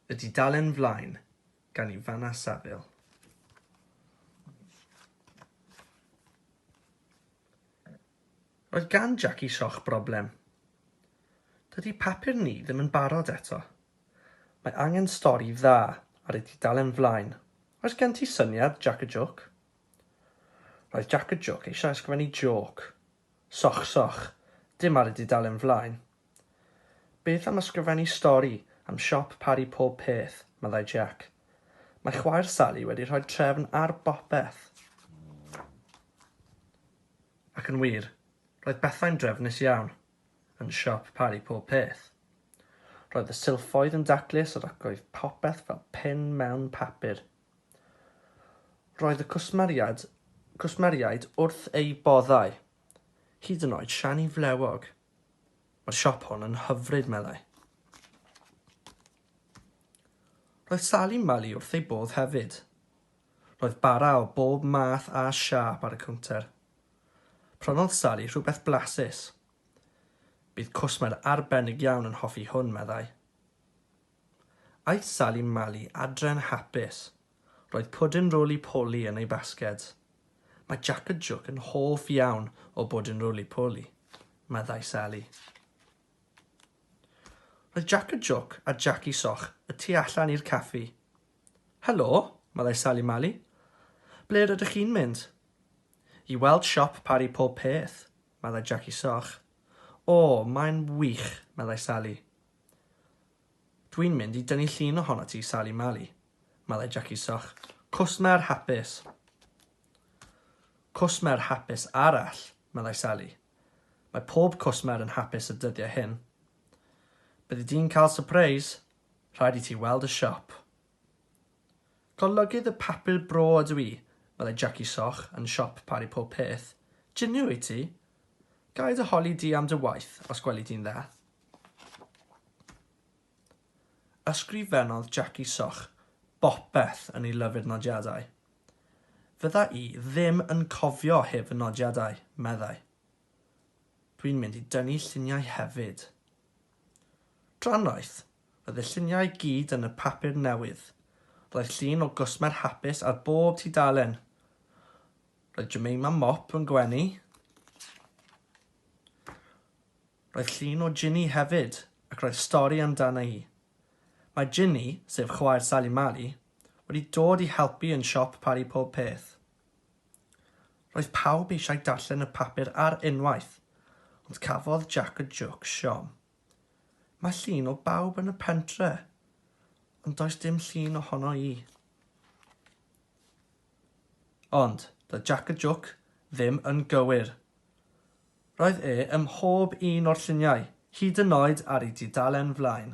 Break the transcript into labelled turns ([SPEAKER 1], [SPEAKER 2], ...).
[SPEAKER 1] Y dudalen flaen, gan Ivana Saville. Roedd gan Jackie Shoch broblem. Dydy papur ni ddim yn barod eto. Mae angen stori dda ar y dudalen flaen. Oes gen ti syniad, Jac y Jôc? Roedd Jac y Jôc eisiau ysgrifennu jôc. Soch, soch. Dim ar y dudalen flaen. Beth am ysgrifennu stori am siop Parry Pob Peth, meddai Jack. Mae chwaer Sally wedi rhoi trefn ar bopeth. Ac yn wir, roedd pethau'n drefnus iawn yn siop Parry Pob Peth. Roedd y silffoedd yn daclus ac roedd popeth fel pin mewn papur. Roedd y cwsmeriaid, cwsmeriaid wrth eu boddau, hyd yn oed Siani Flewog. Mae'r siop hon yn hyfryd, meddai. Roedd Sali Mali wrth ei bodd hefyd. Roedd bara o bob math a siâp ar y cownter. Prynodd Sali rhywbeth blasus. Bydd cwsmer arbennig iawn yn hoffi hwn, meddai. Aeth Sali Mali adre'n hapus. Roedd pwdin rôli poli yn ei basged. Mae Jac a Jwc yn hoff iawn o bwdin rôli poli, meddai Sali. Roedd Jac a Jwc a Jaci Soch y tu allan i'r caffi. Helo, meddai Sali Mali. Ble rydych chi'n mynd? I weld siop Pari Pob Peth, meddai Jaci Soch. O, mae'n wych, meddai Sali. Dwi'n mynd i dynnu llun ohonot ti, Sali Mali, meddai Jackie Soch. Cwsmer hapus! Cwsmer hapus arall, meddai Sali. Mae pob cwsmer yn hapus y dyddiau hyn. Byddi di'n cael sypreis, rhaid i ti weld y siop. Golygydd y papur bro ydw i, meddai Jackie Soch, yn siop Pari Pob Peth. Jinio wyt ti? Ga i dy holi di am dy waith, os gweli di'n dda? Ysgrifennodd Jackie Soch bopeth yn ei lyfr nodiadau. Fydda i ddim yn cofio heb fy nodiadau, meddai. Dwi'n mynd i dynnu lluniau hefyd. Drannoeth, roedd y lluniau i gyd yn y papur newydd. Roedd llun o gwsmer hapus ar bob tudalen. Roedd Jemima Mop yn gwenu. Roedd llun o Ginny hefyd ac roedd stori amdana hi. Mae Ginny, sef chwaer Sali Mali, wedi dod i helpu yn siop Pari Pob Peth. Roedd pawb eisiau darllen y papur ar unwaith, ond cafodd Jac y Jwc siom. Mae llun o bawb yn y pentre, ond does dim llun ohono i. Ond, doedd Jac y Jwc ddim yn gywir. Roedd e ym mhob un o'r lluniau, hyd yn oed ar ei dudalen flaen.